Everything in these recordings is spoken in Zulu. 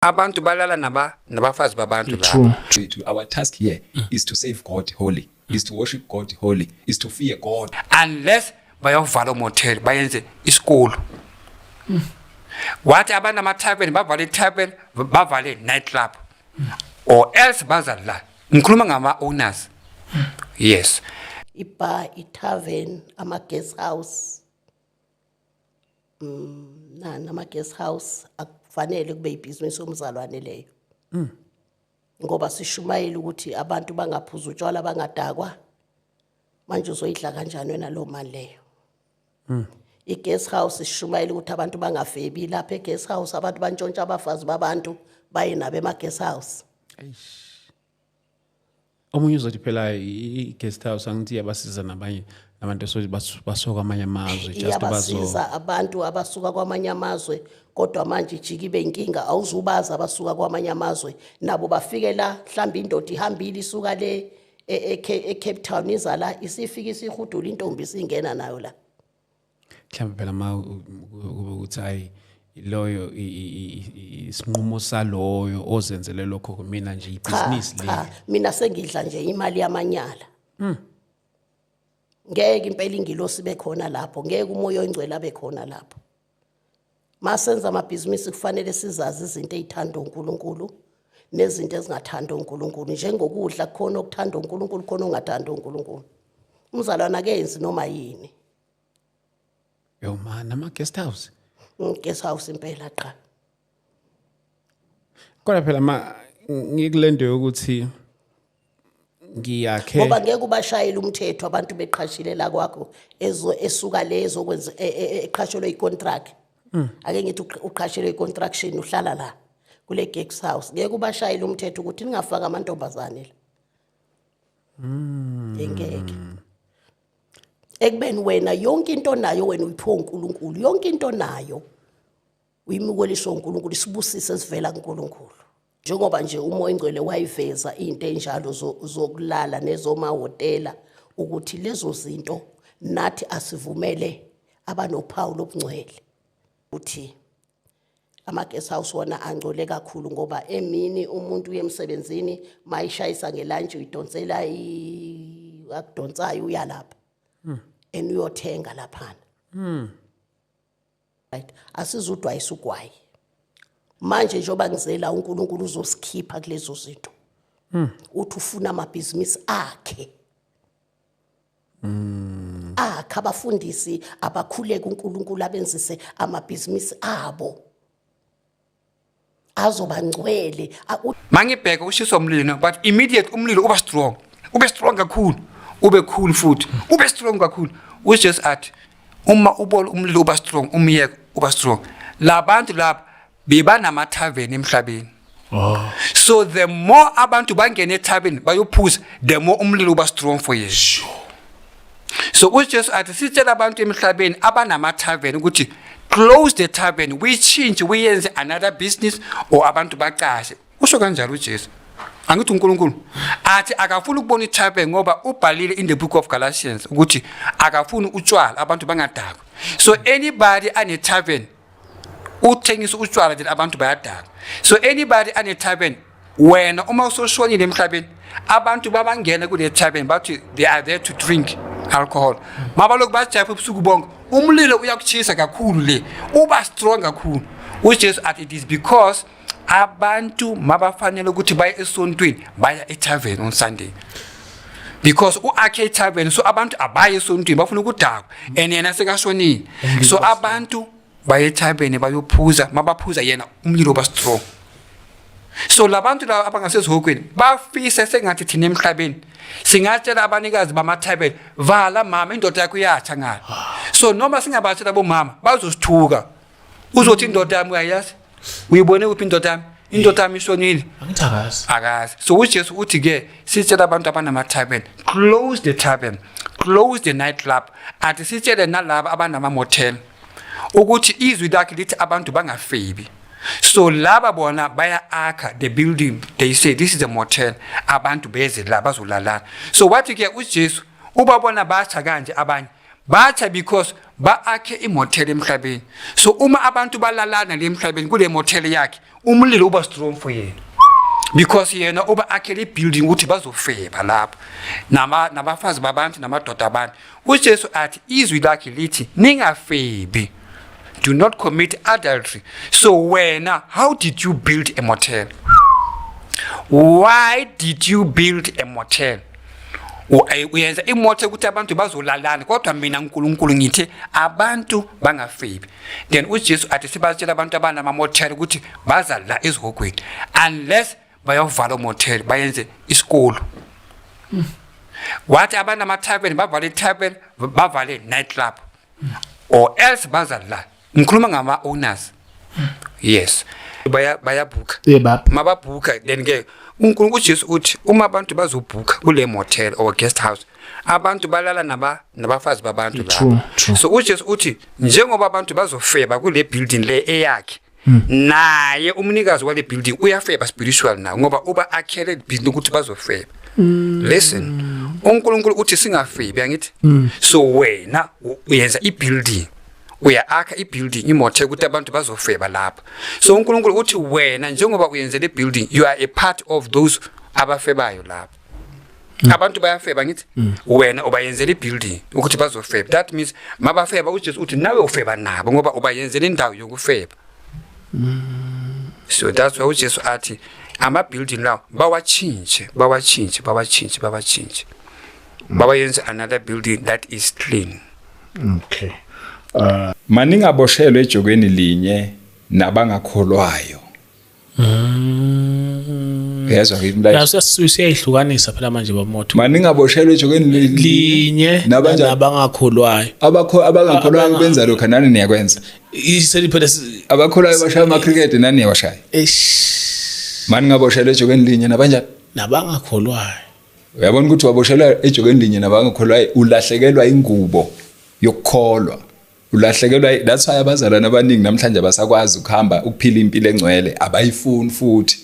abantu balala naba nabafazi babantu lapha our task here mm. is to save god holy is to worship god holy is to fear god unless bayovala motel bayenze isikolo mm. wathi abantu amatavern bavale itavern bavale night club mm. or else bazadlala ngikhuluma ngama owners mm. yes ibar itavern ama guest house Mm, na nama guest house akufanele kube ibhizinisi omzalwane leyo. Mm. Ngoba sishumayile ukuthi abantu bangaphuza utshwala bangadakwa. Manje uzoyidla kanjani wena lo mali leyo? Mm. I guest house ishumayile ukuthi abantu bangafebi lapha e guest house abantu bantshontsha abafazi babantu baye nabe ma guest house. Eish. omunye uzothi phela i-guest house angithi iyabasiza nabanye nabantu esothi basuka kwamanye amazwe just bazosiza abantu abasuka kwamanye amazwe kodwa manje ijike ibe inkinga awuzubazi abasuka kwamanye amazwe nabo bafike la mhlawumbe indoda ihambile isuka le e-, e-, e-cape town iza la isifike isihudula intombi isingena nayo la mhlawumbe phela ma kube ukuthi hayi loyo isinqumo saloyo ozenzele lokho kumina nje ibhizinisi le mina sengidla nje imali yamanyala hmm. ngeke impela ingilosi bekhona lapho ngeke umoya oyingcwele abekhona lapho masenza amabhizinisi kufanele sizazi izinto ezithanda uNkulunkulu nezinto ezingathanda uNkulunkulu njengokudla khona okuthanda uNkulunkulu khona ongathanda uNkulunkulu umzalwana akenzi noma yini yo ma nama guest house mm, guest house impela qha kodwa phela ma ngikulento yokuthi ngiyakhe ngoba ngeke ubashayele umthetho abantu beqhashile la kwakho ezo esuka lezo kwenza e, e, e, eqhashelwe icontract hmm. ake ngithi uqhashelwe icontraction uhlala la kule guest house ngeke ubashayele umthetho ukuthi ningafaka amantombazane la hmm. ngeke ekubeni wena yonke into nayo wena uyiphiwa uNkulunkulu yonke into nayo uyimukeliso uNkulunkulu isibusise esivela kuNkulunkulu njengoba nje umoya ingcwele wayiveza into enjalo zokulala nezomahotela ukuthi lezo zinto nathi asivumele abanophawu lobungcwele ukuthi ama-guest house wona angcole kakhulu ngoba emini umuntu uye emsebenzini mayishayisa ngelantshi uyidonsela akudonsayo uyalapha hmm. and uyothenga laphana hmm. right asizudwayisa ugwayi manje njengoba ngizela uNkulunkulu uzosikhipha kulezo zinto hmm. uthi ufuna amabhizinisi akhe Mm. akhe abafundisi abakhuleke uNkulunkulu abenzise amabhizinisi abo azoba ngcwele mangibheke ushiswa umlilo but immediate umlilo uba strong ube strong kakhulu ube cool futhi ube strong kakhulu ujesu athi uma ubona umlilo uba strong umyeke uba strong labantu laba bebanamatarven emhlabeni Oh. So the more abantu bangena ethabeni bayophuza the more umlilo uba strong for you. Sure. so ujesu athi sitshela abantu emhlabeni abanama-tarven ukuthi close the tarven uyitshintshe uyenze another business or abantu bacashe usho kanjalo ujesu angithi unkulunkulu athi akafuni ukubona ithape ngoba ubhalile in the book of galatians ukuthi akafuni utshwala abantu bangadakwa so anybody anetavern uthengisa utshwala then abantu bayadala so anybody anethaben wena uma usoshonile emhlabeni abantu babangena kule thaben bathi they are there to drink alcohol mabalokhu bajapha ubusuku bonke umlilo uyakuchisa kakhulu le uba strong kakhulu ujesu athi it is because abantu mabafanele ukuthi baye esontweni baya etavern on sunday because u-akhe itavern so abantu abaye esontweni bafuna ukudakwa and yena sekashonile so abantu baye etavern bayophuza mabaphuza yena umlilo uba strong so labantu laba abangasezihokweni bafise sengathi thina emhlabeni singatshela abanikazi bamathayibele vala mama indoda yakho iyatsha ngalo so noma singabatshela bomama bazosithuka uzothi indoda yami uyayazi uyibone kuphi indoda yami indoda yami ishonile angithi akazi akazi so ujesu uthi ke sitshela abantu abanama-tarben close the tarben close the night club athi sitshele nalaba abanama-motel ukuthi izwi lakhe lithi abantu bangafebi so laba bona baya-akha the building they say this is a motel abantu beze la bazolalana so wathi ke ujesu uba bona basha kanje abanye batha because ba-akhe imothela emhlabeni so uma abantu balalana le emhlabeni kule mothela yakhe umlilo uba strong for yena because yena uba akhele ibuilding ukuthi bazofeba lapho nabafazi babantu namadoda abantu ujesu athi izwi lakhe lithi ningafebi do not commit adultery so wena how did you build a motel why did you build a motel uyenza imoto ukuthi abantu bazolalana kodwa mina uNkulunkulu ngithi abantu bangafebi then uJesu athi sibatshela abantu abanama motel ukuthi baza la ezihogweni unless bayovala umotel bayenze isikolo wathi abanama tavern bavale tavern bavale night club or else baza la ngikhuluma ngama owners yes baya bayabhuka mababhuka then ke uNkulunkulu uJesu uthi uma abantu bazobhuka kule motel or guest house abantu balala naba nabafazi babantu lapho so uJesu uthi njengoba abantu bazofeba kule building le eyakhe hmm. naye umnikazi wale building uyafeba spiritual na ngoba uba akhele building ukuthi bazofeba hmm. listen uNkulunkulu uthi singafebi angithi hmm. so wena uyenza ibuilding uya-akha i-building imothe ukuthi abantu bazofeba lapho so unkulunkulu uthi wena njengoba uyenze le building you are a part of those abafebayo lapho mm. abantu bayafeba ngithi mm. wena ubayenzela i-building ukuthi bazofeba that means mabafeba ujesu uthi nawe ufeba nabo ngoba ubayenzela indawo yokufeba mm. so that's why ujesu athi ama-building lawo bawatshintshe bawatshintshe bawatshintshe bawatshintshe babayenze another building that is clean okay uh, maningi aboshelwe ejokweni linye nabangakholwayo mm. yezwa ngimlayasiyayihlukanisa phela manje bamoto maningi aboshelwe ejokweni linye nabangakholwayo abangakholwayo benza lokho nani niyakwenza abakholwayo bashaya amacricket nani niyawashaya maningi aboshelwe ejokweni linye nabanjani nabangakholwayo uyabona ukuthi waboshelwa ejokeni linye nabangakholwa ulahlekelwa ingubo yokukholwa ulahlekelwa that's why abazalwane abaningi namhlanje abasakwazi ukuhamba ukuphila impilo engcwele abayifuni futhi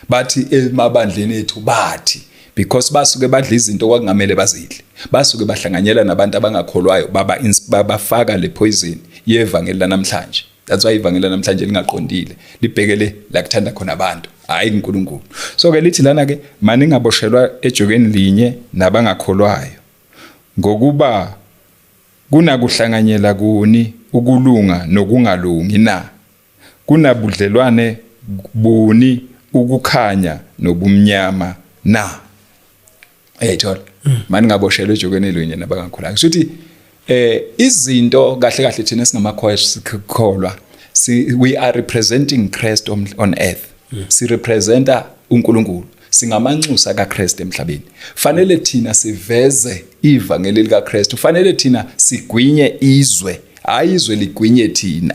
bathi emabandleni ethu bathi because basuke badla izinto kwakungamele bazidle basuke bahlanganyela nabantu abangakholwayo baba bafaka le poison yevangeli lanamhlanje that's why ivangeli namhlanje lingaqondile libhekele la kuthanda khona abantu hayi kuNkulunkulu so ke lithi lana ke mani ngaboshelwa ejokeni linye nabangakholwayo ngokuba kunakuhlanganyela kuni ukulunga nokungalungi na kunabudlelwane buni ukukhanya nobumnyama na Eyithola. Mm. Mani ngaboshelwe ejokweni elinye nabangakhulanga. Kusho ukuthi eh izinto kahle kahle thina singamakhoya sikholwa si we are representing Christ on, on earth. Mm. Si representa uNkulunkulu. singamanxusa kaKristu emhlabeni fanele thina siveze ivangeli likaKristu fanele thina sigwinye izwe hayi izwe ligwinye thina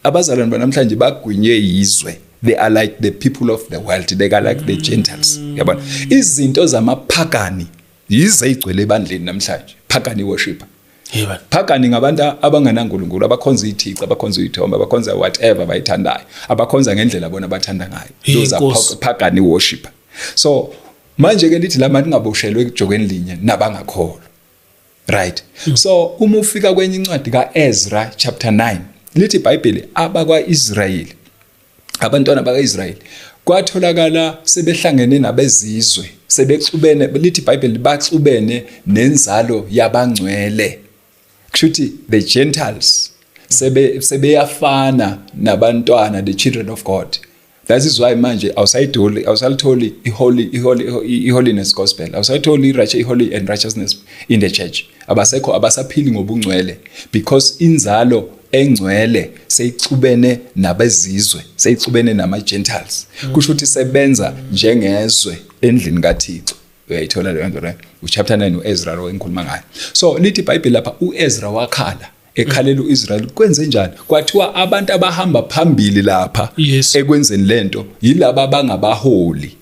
abazalwane banamhlanje bagwinywe yizwe they are like the people of the world they are like the gentiles yabona izinto zamaphakani yize igcwele ebandleni namhlanje phakani worshiper Yeba. Phakani ngabantu abangenaNkulunkulu, abakhonza izithici, abakhonza izithombe, abakhonza whatever bayithandayo, abakhonza ngendlela bona bathanda ngayo. Those are phakani worship. So manje ke lithi lama lingaboshelwe ekujokeni linye nabangakholwa. right mm. so uma ufika kwenye incwadi kaEzra chapter 9 lithi iBhayibheli abakwaIsrayeli abantwana bakaIsrayeli kwatholakala sebehlangene nabezizwe sebexubene lithi iBhayibheli baxubene nenzalo yabangcwele kushuthi the gentiles sebe sebeyafana nabantwana the children of God That is why manje awusayitholi awusalitholi iholy iholy iholiness gospel awusayitholi irache iholy and righteousness in the church abasekho abasaphili ngobungcwele because inzalo engcwele seyixubene nabezizwe seyixubene nama gentiles mm. kusho ukuthi sebenza njengezwe endlini kaThixo uyayithola leyo nto right uchapter 9 uEzra lo engikhuluma ngayo so lithi iBhayibheli lapha uEzra wakhala ekhalela uIsrael kwenze njani kwathiwa abantu abahamba phambili lapha yes. ekwenzeni lento yilabo abangabaholi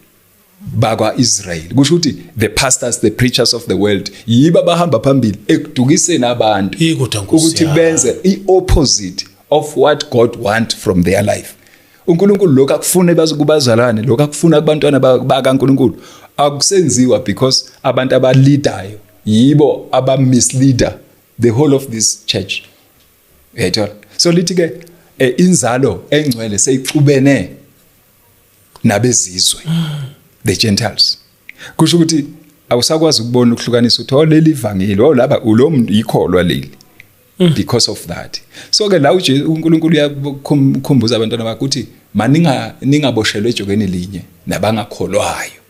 bakwaIsrael kusho ukuthi the pastors the preachers of the world yiba bahamba phambili ekudukiseni abantu ukuthi benze iopposite of what God want from their life uNkulunkulu lokho akufune bazukubazalwane lokho akufuna kubantwana bakaNkulunkulu akusenziwa because abantu abaleadayo yibo abamisleader the whole of this church uyayithola so lithi ke eh, inzalo engcwele seyixubene nabezizwe the gentiles kusho ukuthi awusakwazi ukubona ukuhlukanisa ukuthi oh leli vangeli oh laba ulo muntu yikholwa leli mm. because of that so ke la uNkulunkulu uyakhumbuza abantwana bakhe ukuthi maninga ningaboshelwe ejokeni linye nabangakholwayo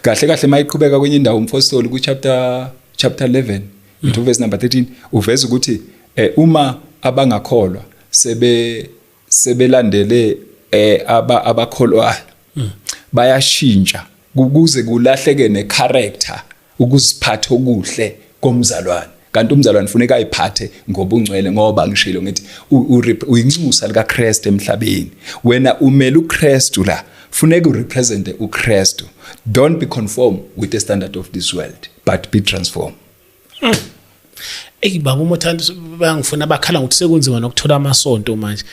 kahle kahle mayiqhubeka kwenye indawo umfostoli ku chapter chapter 11 mm. into verse number 13 uveza ukuthi eh, uma abangakholwa sebe sebelandele eh aba abakholwayo mm. bayashintsha kuze kulahleke ne character ukuziphatha okuhle komzalwane kanti umzalwane funeka ayiphathe ngobungcwele ngoba ngishilo ngithi uyinxusa likaKristu emhlabeni wena umele uKristu la funeka urepresente uKristu don't be conform with the standard of this world but be transformed mm. Ey baba uma uthanda bayangifuna bakhala ngokuthi sekunzima nokuthola amasonto manje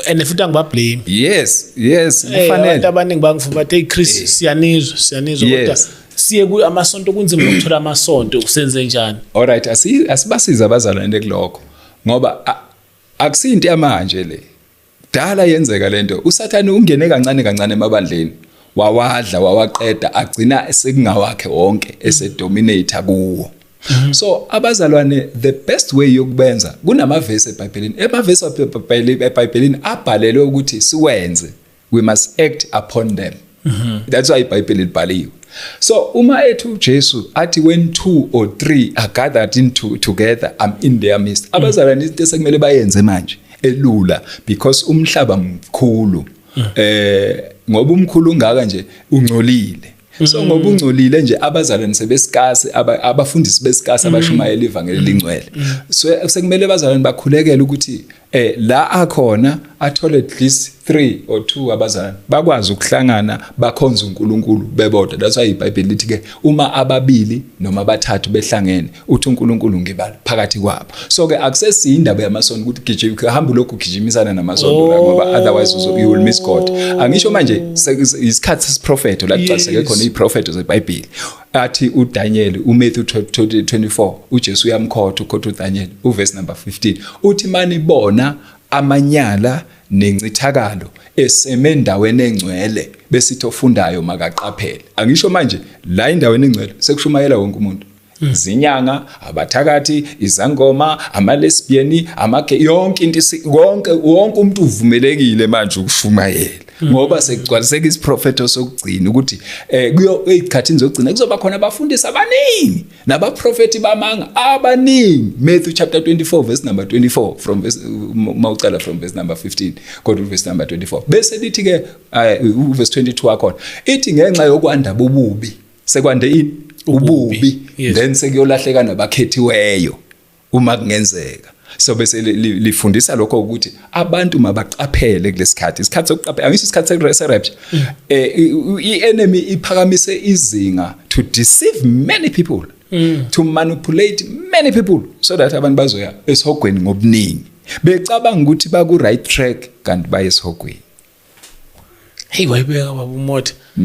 and futhi angibablame yes yes eh, kufanele abantu abaningi bangifuna bathi hey Chris eh. siyanizwa siyanizwa kodwa siye ku amasonto kunzima ukuthola amasonto usenze njani all right asibasiza abazalwane kuloko ngoba akusinto yamanje le dala yenzeka lento usathane ungene kancane kancane emabandleni wawadla wawaqeda agcina sekungawakhe wonke esedominate kuwo Mhm. so abazalwane the best way yokubenza kunamavesi ebhayibhelini emavesi ebhayibhelini abhalelwe ukuthi siwenze we must act upon them mhm. that's why ibhayibheli libhaliwe so uma ethi uJesu athi when two or three are gathered into together i'm in their midst mhm. abazalwane into esekumele bayenze manje elula because umhlaba mkhulu eh ngoba umkhulu ungaka nje ungcolile so mm. ngoba ungcolile nje abazalwane sebesikasi abafundisi besikasi mm. abashumayela ivangeli mm. lingcwele so sekumele abazalwane bakhulekele ukuthi eh la akhona athole at least 3 or 2 abazalwane bakwazi ukuhlangana bakhonza uNkulunkulu bebodwa that's why iBhayibheli lithi ke uma ababili noma abathathu behlangene uthi uNkulunkulu ngibala phakathi kwabo so ke akusesiyi indaba yamasondo ukuthi gijima uhamba lokhu gijimisana namasondo la ngoba oh. otherwise you will miss God angisho manje isikhathi sesiprofeto la kucaseke khona iprofeto zeBhayibheli athi uDaniel uMatthew 24 uJesu uyamkhotha ukhotha uDaniel uverse number 15 uthi mani bona amanyala nencithakalo eseme endaweni engcwele besithi ofundayo makaqaphele angisho manje la endaweni engcwele sekushumayela wonke umuntu Hmm. zinyanga abathakathi izangoma amalesbian amage yonke into konke wonke umuntu uvumelekile manje ukushumayela hmm. ngoba sekugcwaliseka isiprofeto sokugcina ukuthi eh kuyo ezikhathini zokugcina kuzoba khona abafundisi abaningi nabaprofeti bamanga abaningi Matthew chapter 24 verse number 24 from verse mawucala from verse number 15 kodwa verse number 24 bese lithi ke eh, verse 22 akhona ithi ngenxa yokwanda bobubi sekwande ini ububi yes. then sekuyolahleka nabakhethiweyo uma kungenzeka so bese lifundisa lokho ukuthi abantu mabaqaphele kulesikhathi isikhathi sokuqaphela angisho isikhathi seresept mm. eh ienemy iphakamise izinga to deceive many people mm. to manipulate many people so that abantu bazoya esihogweni ngobuningi becabanga ukuthi baku right track kanti bayesihogweni hey wayibeka baba umothi mm.